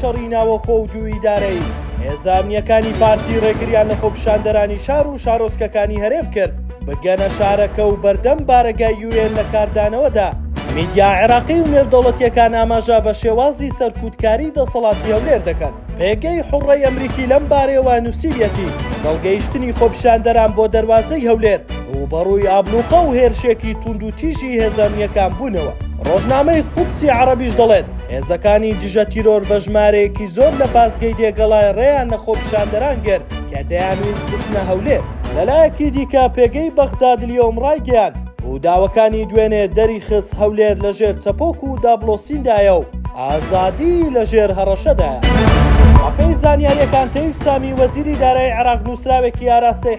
شەڕی ناوەخۆ و دوو ئیدارەیی، هێزە ئەمنییەکانی پارتی ڕێگریان لە خۆپیشاندەرانی شار و شارۆچکەکانی هەرێم کرد بگەنە شارەکە و بەردەم بارەگای یو ئێن لە کاردانەوەدا. میدیا عێراقی و نێودەوڵەتییەکان ئاماژە بە شێوازی سەرکوتکاری دەسەڵاتی هەولێر دەکەن. پێگەی حوڕڕەی ئەمریکی لەم بارەیەوە نووسیویەتی، هەڵگەیشتنی خۆپیشاندەران بۆ دەروازەی هەولێر ڕووبەڕووی ئابڵوقە و هێرشێکی توندوتیژی هێزە ئەمنییەکان بوونەوە. ڕۆژنامەی قودسی عەڕەبیش دەڵێت، هێزەکانی دژە تیرۆر بە ژمارەیەکی زۆر لە پاسگەی دێگەڵای ڕێیان لە خۆپیشاندەران گرت کە دەیانویست بچنە هەولێر. لەلایەکی دیکە پێگەی بەغدادلیۆم ڕایگەیاند، ڕووداوەکانی دوێنێ دەریخست هەولێر لەژێر چەپۆک و دابڵۆسیندایە و ئازادی لەژێر هەڕەشەدایە. بەپێی زانیارییەکان تەیف سامی وەزیری دارایی عێراق نووسراوێکی ئاراستەی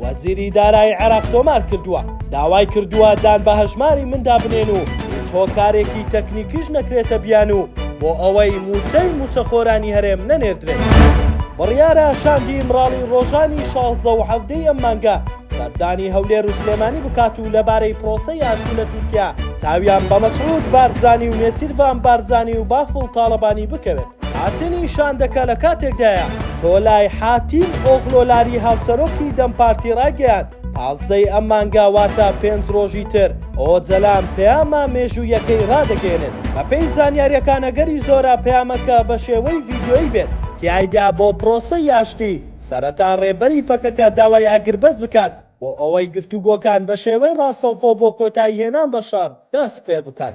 وەزیری دارایی عێراق تۆمار کردووە، داوای کردووە دان بە هەژماری مندا بنێن و هیچ هۆکارێکی تەکنیکیش نەکرێتە بیانوو بۆ ئەوەی مووچەی مووچەخۆرانی هەرێم نەنێردرێت. بڕیارە شاندی ئیمراڵی ڕۆژانی شازدە و حەڤدە ی ئەم مانگە سەردانی هەولێر و سلێمانی بکات و لەبارەی پرۆسەی ئاشتی لە تورکیا چاویان بە مەسعود بارزانی و نێچیرڤان بارزانی و بافڵ تاڵەبانی بکەوێت. هاتنی شاندەکە لە کاتێکدایە، تۆلای حاتیم ئۆغلۆلاری هاوسەرۆکی دەم پارتی ڕایگەیاند، پازدەی ئەم مانگە واتە پێنج ڕۆژی تر ئۆجەلان پەیامە مێژوویەکەی ڕادەگەیەنێت، بەپێی زانیارییەکان ئەگەری زۆرە پەیامەکە بە شێوەی ڤیدیۆیی بێت، تیایدا بۆ پرۆسەی ئاشتی سەرەتا ڕێبەری پەکەکە داوای ئاگربەست بکات بۆ ئەوەی گفتوگۆکان بە شێوەی ڕاستەوخۆ بۆ کۆتاییهێنان بە شەڕ دەست پێبکەن.